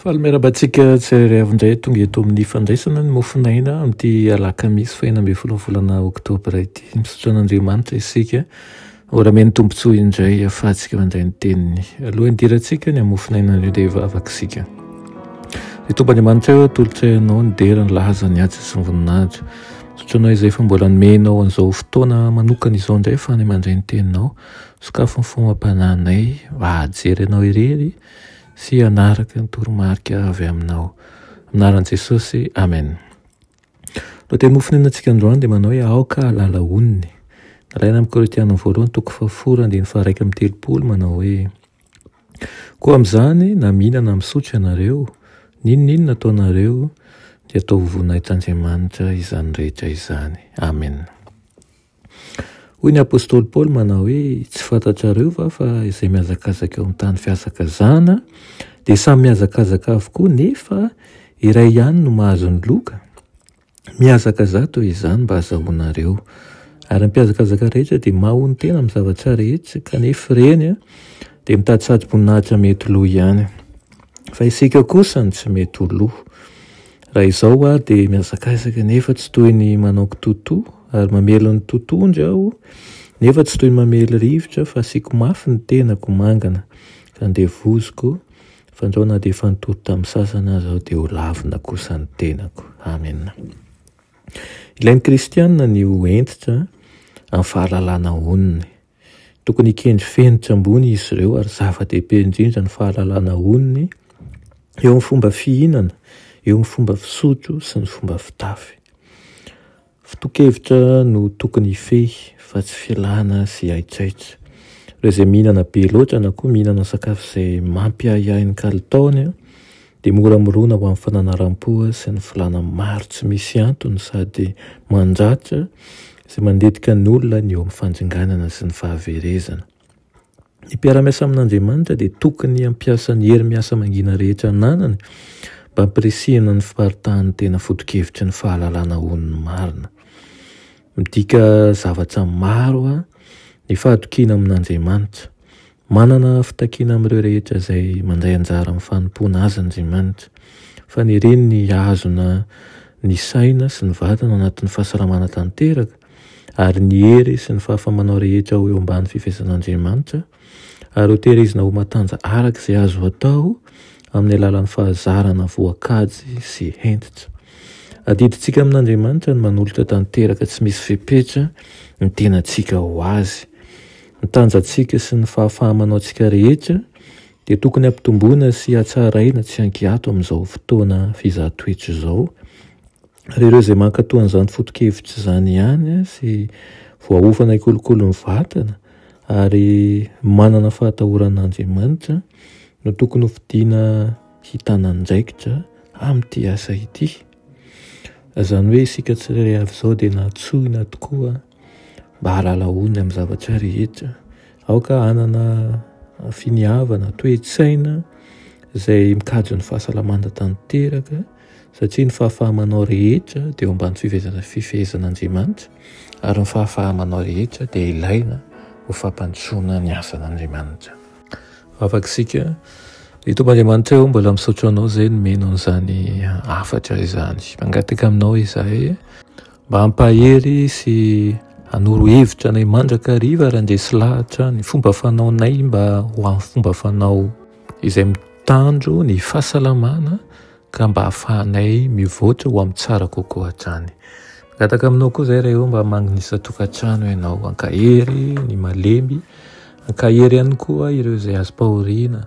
Faly miarahaba antsika tsirairay avy indray tonga eto amin'ny fandraisana ny mofon'aina amin'ity alakamisy fahena ambin'ny folo volana oktobra ity. Misaotra an'Andriamanitra isika ho ramen'ny tombontsoa indray ahafahantsika mandray ny teniny. Alohan'ny dirantsika ny mofon'aina indray dia hivavaka isika. Ny tompo Andriamanitra eo atolotray anao ny dera ny laza ny asa sy ny voninahitra. Misaotra anao izay fa mbola nomenao an'izao fotoana manokana izao indray ahafahana mandray ny teninao. Sokafy ny fomba-panahinay mba hahajery anao irery sy hanaraka ny toromarika avy aminao. Amin'ny anaran'i Jesosy, amen. Lohateny mofo nihinantsika androany dia manao hoe aoka halala onony. Nalaina amin'ny Korintiana voalohany toko fahafolo andininy faharaika amin'ny telopolo manao hoe koa amin'izany na mihinana misotro ianareo n'inon'inona ataonareo dia atao ho voninahitr' Andriamanitra izany rehetra izany. Amen. Hoy ny apostoly Paoly manao hoe, Tsy fantatrareo va fa izay mihazakazaka eo amin'ny tany fihazakazahana dia samy mihazakazaka avokoa nefa iray ihany no mahazo ny loka? Mihazakazaha toy izany mba hazahoanareo. Ary ny mpihazakazaka rehetra dia mahahonon-tena amin'ny zavatra rehetra kanefa ireny dia mitady sady boninahitra mety ho lo ihany. Fa isika kosa no tsy mety ho lo. Raha izao hoa dia mihazakazaka nefa tsy toy ny manao kitotoa ary mamely ny totohondry aho nefa tsy toy ny mamely rivotra fa asiako mafy ny tenako mangana ka andevoziko fandrao na dia efa nitory tamin'ny sasany aza aho dia ho lavina kosa ny tenako. Amen. Ilain'ny kristiana ny ho hentitra amin'ny fahalalana onony. Tokony hikendry fenitra ambony izy ireo ary zava-dehibe indrindra ny fahalalana onony eo amin'ny fomba fihinana, eo amin'ny fomba fisotro sy ny fomba fitafy. Foto-kevitra no tokony hifehy fa tsy filana sy haitraitra. Ireo izay mihinana be loatra na koa mihinana sakafo izay mampiahiahy ny kalitaony dia mora mirona ho amin'ny fananaram-po sy ny filàna maro tsy misy antony sady mandratra sy manditika ny olona ny eo amin'ny fandringanana sy ny fahaverezana. Ny mpiara-miasa amin'Andriamanitra dia tokony hampiasa ny hery miasa mangina rehetra ananany mba hampirisihina ny fiparitahan'ny tena foto-kevitry ny fahalalana ho ny marina. Midika zavatra maro ny fahatokiana amin'Andriamanitra. Manana fitakiana amin'ireo rehetra izay mandray anjara amin'ny fanompoana Azy Andriamanitra. Fanereny ny hahazona ny saina sy ny vatana anatin'ny fahasalamana tanteraka, ary ny hery sy ny fahafamanao rehetra ho eo ambany fifehezan'Andriamanitra, ary hoterezina ho matanja araka izay azo atao amin'ny alalan'ny fahazarana voakajy sy hentitra. Adidintsika amin'Andriamanitra ny manolotra tanteraka tsy misy fepetra ny tenantsika ho Azy. Ny tanjantsika sy ny fahafaha-manaontsika rehetra dia tokony hampitomboina sy hatsaraina tsy an-kiato amin'izao fotoana fizaha toetra izao, ary ireo izay mankatò an'izany foto-kevitra izany ihany sy voaofana hikolokolo ny vatana ary manana fahatahorana an'Andriamanitra no tokony hofidiana hitana andraikitra amin'ity asa ity. Izany hoe isika tsirairay avy izao dia nantsoina tokoa Mba hahalala olona amin'ny zavatra rehetra. Aoka hanana finiavana, toe-tsaina izay mikajy ny fahasalamana tanteraka satria ny fahafahamanao rehetra dia eo ambany fifehezan'Andriamanitra ary ny fahafahamanao rehetra dia ilaina ho fampandrosoana ny asan'Andriamanitra. Afaka isika. Ry Tompo Andriamanitra o, mbola misaotra Anao izay nomena an'izany hafatra izany. Mangataka Aminao izahay. Mba hampahery sy hanoro hevitra anay mandrakariva raha ndresy lahatra ny fomba fanaonay mba ho amin'ny fomba fanao izay mitandro ny fahasalamana ka mba hahafahanay mivoatra ho amin'ny tsara kokoa hatrany. Mangataka aminao koa izay Ray mba magnisa tokantrano ianao, hankahery ny malemy, hankahery ihany koa ireo izay azom-pahoriana